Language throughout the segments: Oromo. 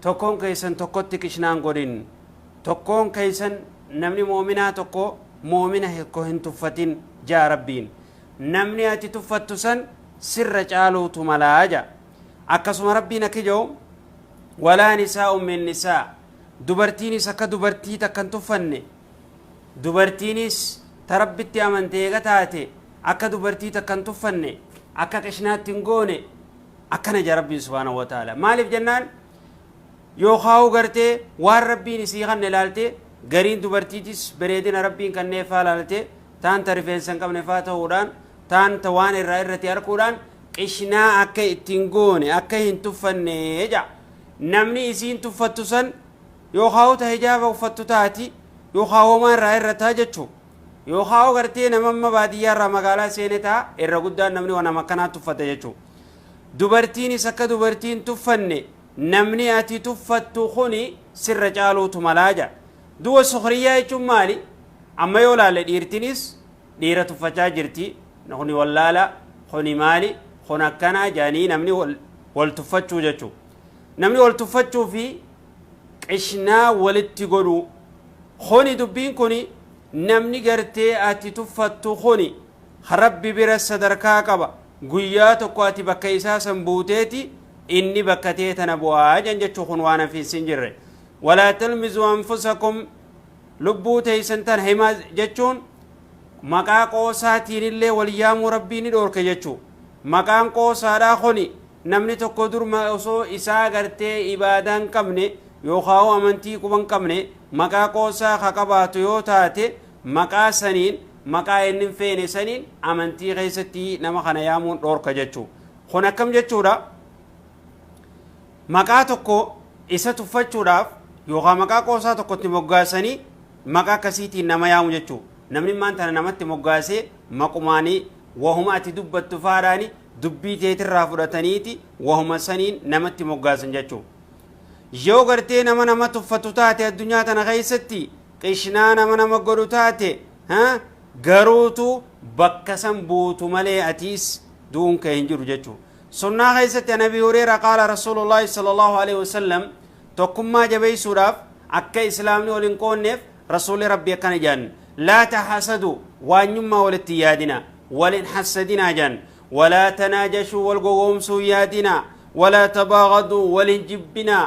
Tokkoon keessan tokkotti qishna hin godhin. Tokkoon keessan namni mu'uminaa tokko mu'umina hikko hin tuffatin ja'a Rabbiin. Namni ati tuffattu san sirra caaluutu mala ja'a. Akkasuma Rabbiin akki ja'u walaa nisaa'un min nisaa dubartiinis akka dubartii takka hin tuffanne dubartiinis ta Rabbitti amante eega taate akka dubartii takka hin tuffanne akka qishnaatti hin goone akkana ja rabbiin subhaanahu wa ta'aala maaliif jennaan yookaa'uu gartee waan rabbiin isii kanne ilaalte gariin dubartiitis bareedina rabbiin kannee faa ilaalte taan ta rifeensa hin qabne faa ta'uudhaan taan ta waan irraa irratti arkuudhaan qishnaa akka ittiin goone akka hin tuffanne ja namni isiin tuffattu san yookaa'uu ta hijaaba uffattu taati yookaa homaa irraa irra taa jechuu yookaa gartee nama amma baadiyyaa irraa magaalaa seene taa irra guddaan namni waan nama akkanaa tuffata jechuu Dubartiinis akka dubartii hin tuffanne namni ati tuffattu kuni sirra caaluutu malaa jedha. Duwa sukriyyaa jechuun maali? Amma yoo laalle dhiirtinis dhiira tuffachaa jirti. Kuni wallaala, kuni maali, kun akkana jedhanii namni wal tuffachuu jechuudha. Namni wal tuffachuu fi qishnaa walitti godhuu. Kuni dubbiin kuni namni gartee ati tuffattu kuni rabbi bira sadarkaa qaba. Guyyaa tokko ati bakka isaa san buuteeti inni bakka tee tana bu'aa jan jechu kun waan hafiinsi hin jirre. Walaa talmizuu anfusakum lubbuu teeysan tan himaa jechuun maqaa qoosaatiin illee wal yaamuu rabbii ni dhoorke jechu. Maqaan qoosaadhaa kuni namni tokko dur osoo isaa gartee ibaadaa hin qabne yookaan amantii quba hin qabne maqaa qoosaa ka qabaatu yoo taate maqaa saniin, maqaa inni hin feene saniin amantii keessatti nama kana yaamuun dhoorka jechuu. Kun akkam jechuudha? Maqaa tokko isa tuffachuudhaaf yookaan maqaa qoosaa tokkotti moggaasanii maqaa akkasiitiin nama yaamu jechuu. Namni maan tana namatti moggaasee maqumaanii wahuma ati dubbattu faadhaani dubbii teetirraa fudhataniiti wahuma saniin namatti moggaasan jechuu. Yoo gartee nama nama tuffatu taate addunyaa tana keessatti Qishnaa nama nama godhu taate ha garuutu bakka san buutu malee atiis du'uun kee hin jiru jechu sunnaa keessatti an abi hureera qaala rasuulullaahi sallallahu alaihi wasallam tokkummaa jabeessuudhaaf akka islaamni wal hin qoonneef rasuulli rabbi akkana jedhan laa tahasadu waanyummaa walitti yaadina wal hin hassadinaa jedhan walaa tanaajashuu wal gogoomsuu yaadina walaa tabaagaduu wal hin jibbinaa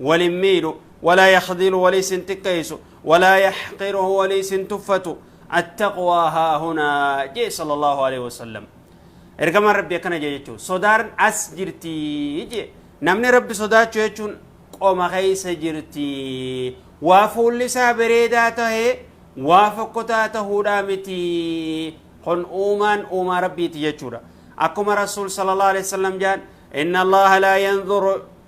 wal hin miidhu walaa yakdilu waliis hin xiqqeeysu walaa yaxqiruhu waliis hin tuffatu attaqwaa haa hunaa jee sala allahu alehi wasalam ergamaan rabbi akkana jee jechuu sodaan as jirtii jee namni rabbi sodaachuu jechuun qoma keeysa jirtii waa fuulli isaa bareedaa tahee waa fokkotaa tahuudhaa mitii kun uumaan uumaa rabbiiti jechuudha akkuma rasuul sala allahu alehi wasalam jaan inna allaha laa yanzuru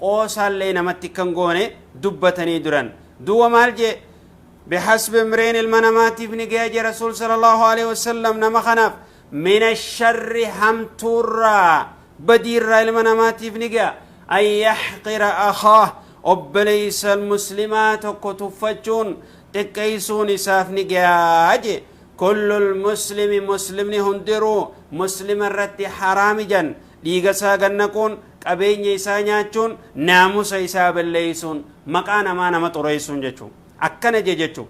qoosaallee namatti akka hin goone dubbatanii duran duuba maal jee bihasbi imriin ilma namaatiif ni gaya jee rasuul sallallahu alaihi wasallam nama kanaaf mina sharri hamtuurraa badiirraa ilma namaatiif ni gaya an yaxqira akaah obboleeysa muslimaa tokko tuffachuun xiqqeeysuun isaaf ni gayaa jee kullu lmuslimi muslimni hundiruu muslima irratti haraami jan Dhiiga isaa gad naquun, qabeenya isaa nyaachuun, naamusa isaa balleessuun, maqaa namaa nama xureessuun jechuun. Akkana je jechuun.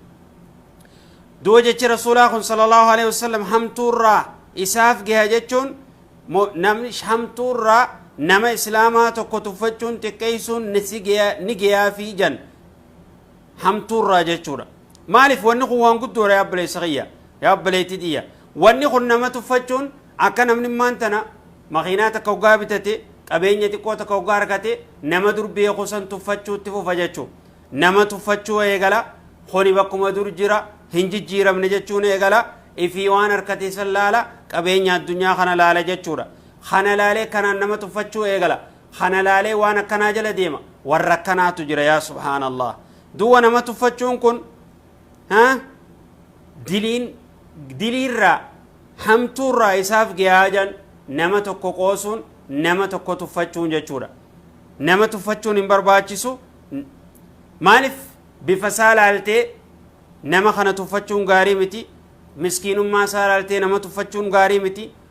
Duuba jechi Rasuulaa kun sallallahu alaihi wasallam hamtuurraa isaaf geha jechuun mo- namni hamtuurraa nama islaamaa tokko tuffachuun xiqqeessuun ni si geya- ni geyaafii jan. hamtuurraa jechuudha. Maaliif wanni kun waan guddoodha yaa obboleessa kiyya yaa obboleettii tiyya. Wanni kun nama tuffachuun akka namni maan tana makiinaa takka hoggaa bitate qabeenya xiqqoo takka hoggaa argate nama dur beeku san tuffachuutti fufa jechuudha. Nama tuffachuu eegala kuni bakkuma dur jira hin jijjiiramne jechuun eegala ifii waan harkate san laala qabeenya addunyaa kana laala jechuudha. Kana laalee kanaan nama tuffachuu eegala. kana laalee waan akkanaa jala deema warra akkanaatu jira yaa subhaanallah duwwa nama tuffachuun kun ha diliin diliirraa hamtuurraa isaaf giyaajan nama tokko qoosuun nama tokko tuffachuun jechuudha nama tuffachuun hin barbaachisu maaliif bifa isaa laaltee nama kana tuffachuun gaarii miti miskiinummaa isaa laaltee nama tuffachuun gaarii miti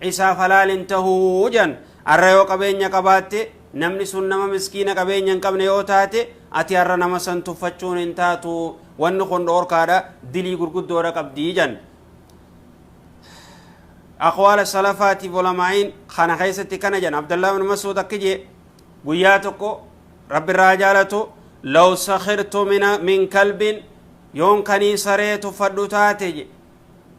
Isaaf halaal hin tahu jedhan. Har'a yoo qabeenya qabaatte, namni sun nama miskiina qabeenya hin qabne yoo taate, ati har'a nama san tuffachuun hin taatu. Wanni kun dhoorkaadha, dilii gurguddoodha qabdi jedhan. Aqwaala salafaatiif ulamaa'iin kana keessatti kana jedhan. Abdallaa bin Masuud akki jee guyyaa tokko rabbi irraa jaalatu law sakhirtu min kalbin yoon kanii saree tuffadhu taate je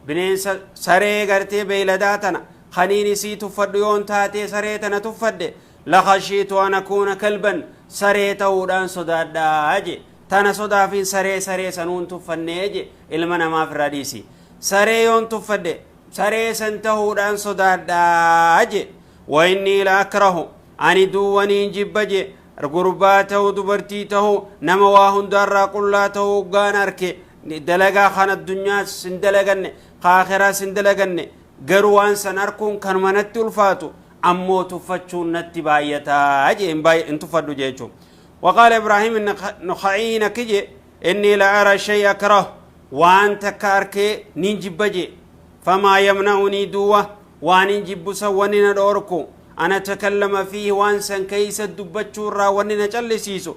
Bineensa, saree, gartee beeyladaa tana kaniin isii tuffadhu yoon taatee saree tana tuffadhe lakhashiitu an akuuna kalban saree ta'uudhaan sodaadha je tana sodaafin saree saree sanuun tuffannee je ilma namaa firraa dhiisi saree yoon tuffadhe saree san ta'uudhaan sodaadha je wa inni la akrahu ani duwwaniin jibba je gurbaa ta'u dubartii ta'u nama waa hundaarraa qullaa ta'u uggaan arke Dalagaa kan addunyaas hin dalaganne, ka akhiraas hin dalaganne. Garuu waan san arkuun kanuma natti ulfaatu, ammoo tuffachuun natti baay'ataa jee hin tuffadhu jechuun. Waqaala Ibraahim Nakha'iin akki jee, inni la ara shay akrah, waan takka arkee nin jibba jee. Famaa yamna'unii duwa, waan hin jibbu san wanni na dhoorku, ana takallama fiihi waan san keeysa dubbachuu irraa wanni na callisiisu,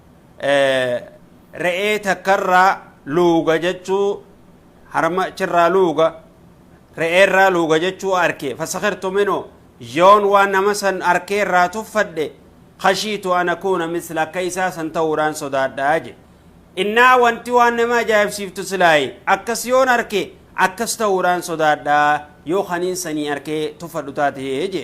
re'ee takkarraa luuga jechuu harma achirraa luuga re'eerraa luuga jechuu arke fasakirtu minu yoon waan nama san arkee irraa tuffadhe kashiitu an akuuna misla akka isaa san ta'uudhaan sodaadhaa je innaa wanti waan nama ajaa'ibsiiftu silaayi akkas yoon arke akkas ta'uudhaan sodaadhaa yoo kaniin sanii arkee tuffadhu taate je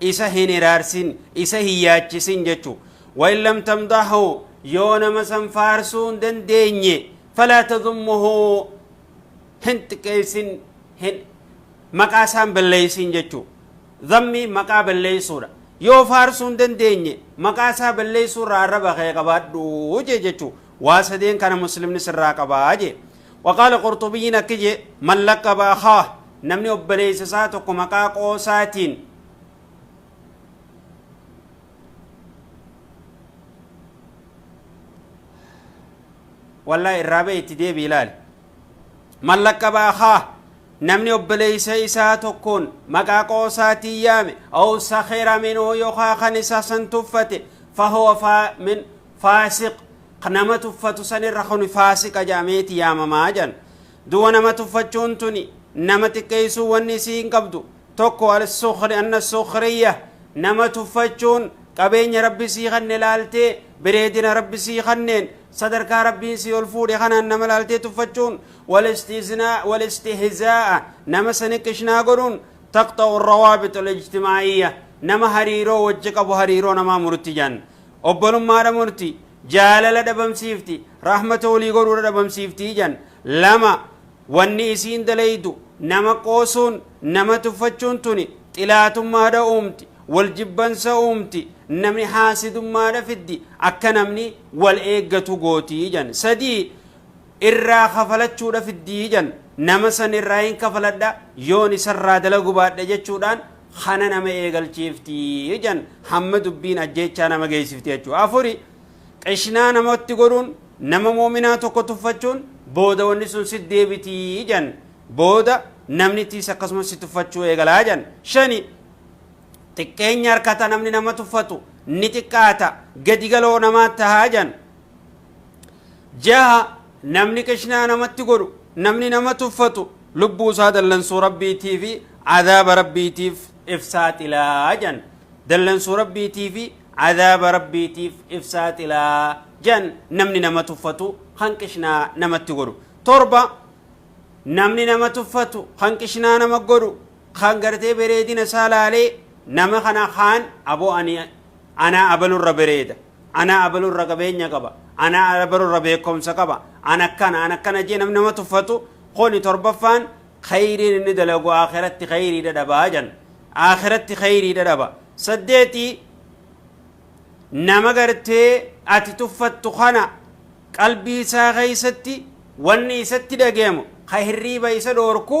Isa hin hiraarsin, isa hin yaachisin jechu. Wain lam tamdahu yoo nama san faarsuu hin dandeenye falaa tadummuhu hin xiqqeessin hin maqaa isaan balleessin jechu. Zammii maqaa balleessuudha. Yoo faarsuu hin dandeenye maqaa isaa balleessuu irraa arraba kee qabaadhu jee jechu. Waa sadeen kana muslimni sirraa qabaa jee. Waqaala Qurxubiyyiin akki je'e, Man laqqaba akhaah, namni obboleeysa isaa tokko maqaa qoosaatiin, wallahi irraa bahi itti deebi'i ilaali. Man laqqaba akhaah, namni obboleeysa isaa tokkoon maqaa qoosaatiin yaame, aw sakhira minhu yookaa kan isa san tuffate, fahuwa faa min faasiq ka nama tuffatu san irra kuni faasiqa jedhameeti yaamamaa jedhan duuba nama tuffachuun tuni nama xiqqeeysuu wanni isii hin qabdu tokko al-sukhri anna sukhriyya nama tuffachuun qabeenya rabbi sii kanne laaltee bireedina rabbi sii kanneen sadarkaa rabbiin sii ol fuudhe kanaan nama laaltee tuffachuun wal-istiznaa- wal-istihzaa'a nama saniqishnaa godhuun taqxa'u rawaabit al-ijtimaa'iyya nama hariiroo wajji qabu hariiroo namaa murti jedhan Obbolummaadha murti, jaalala dhabamsiifti, rahmata wolii godhuudha dhabamsiifti jedhan. 2, Wanni isiin dalaydu, nama qoosuun, nama tuffachuun tuni xilaatummaadha uumti, wol jibbansa uumti, namni haasidummaadha fiddi, akka namni wol eeggatu gooti jedhan. 3, Irraa kafalachuudha fiddi jedhan. Nama san irraa hin kafaladha, yoon isarraa dalagu baadhe jechuudhaan kana nama eegalchiifti jan hamma dubbiin ajjeechaa nama geessifti jechuudha. Afuri qishnaa namatti godhuun nama moominaa tokko tuffachuun booda wanni sun si deebiti jan booda namnittiis akkasumas si tuffachuu eegalaa jan shani xiqqeenya harkata namni nama tuffatu ni xiqqaata gadi galoo namaa tahaa jan jaha namni qishnaa namatti godhu namni nama tuffatu lubbuu isaa dallansuu rabbiitii fi adaaba rabbiitiif ifsaaxilaa jan dallansuu rabbiitii fi adaaba rabbiitiif ifsaaxilaa jan namni nama tuffatu kan qishnaa namatti godhu torba namni nama tuffatu kan qishnaa nama godhu kan gartee bereedina isaa laalee nama kana kaan aboo ani anaa abalurra bereeda Ana abalu irra qabeenya qaba, ana abalu irra beekomsa qaba, ana akkana, ana akkana jee namni nama tuffatu kuni torbaffaan khayriin inni dalagu aakhiratti khayrii dhadhaba jan. Aakhiratti khayrii dhadhaba. Saddeeti nama gartee ati tuffattu kana qalbii isaa keessatti wanni isatti dhageemu ka hirriiba isa dhoorku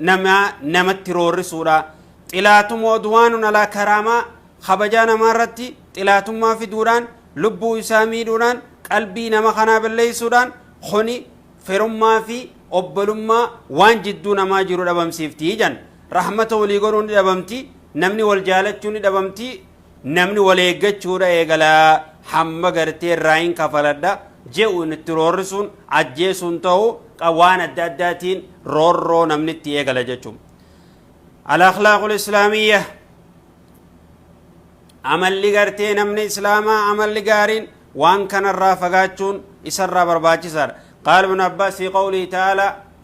namaa namatti roorrisuudha. Xilaatum odwaanun alaa karaamaa kabajaa namaa irratti xilaatummaa fiduudhaan lubbuu isaa miidhuudhaan qalbii nama kanaa balleessuudhaan kuni firummaa fi obbolummaa waan jidduu namaa jiru dhabamsiifti jedhan. Rahmata walii godhuun ni dhabamti, namni wal jaalachuu ni dhabamti, Namni wal eeggachuudha eegala hamma gartee irraayin kafaladha je'u itti roorrisuun ajjeesuun ta'u qa waan adda addaatiin roorroo namni itti eegala jechuun. Al-akhlaaqul islaamiyya amalli gartee namni islaamaa amalli gaariin waan kanarraa fagaachuun isarraa barbaachisaadha. Qaala ibn Abbaas fi qawlii ta'ala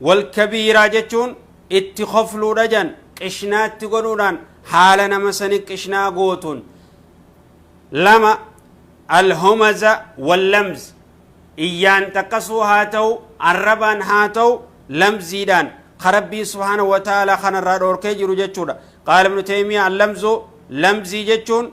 Wal kabiiraa jechuun itti kofluudha jan qishnaa itti godhuudhaan haala nama sani qishnaa gootuun. 2, Al-humaza wal lamz Iyyaan xaqqasuu haa ta'u, arrabaan haa ta'u, lamziidhaan ka Rabbiin subhaanahu wa ta'aalaa kanarraa dhoorkee jiru jechuudha. Qaala ibnu Taymiyyah Al-lamzu lamzii jechuun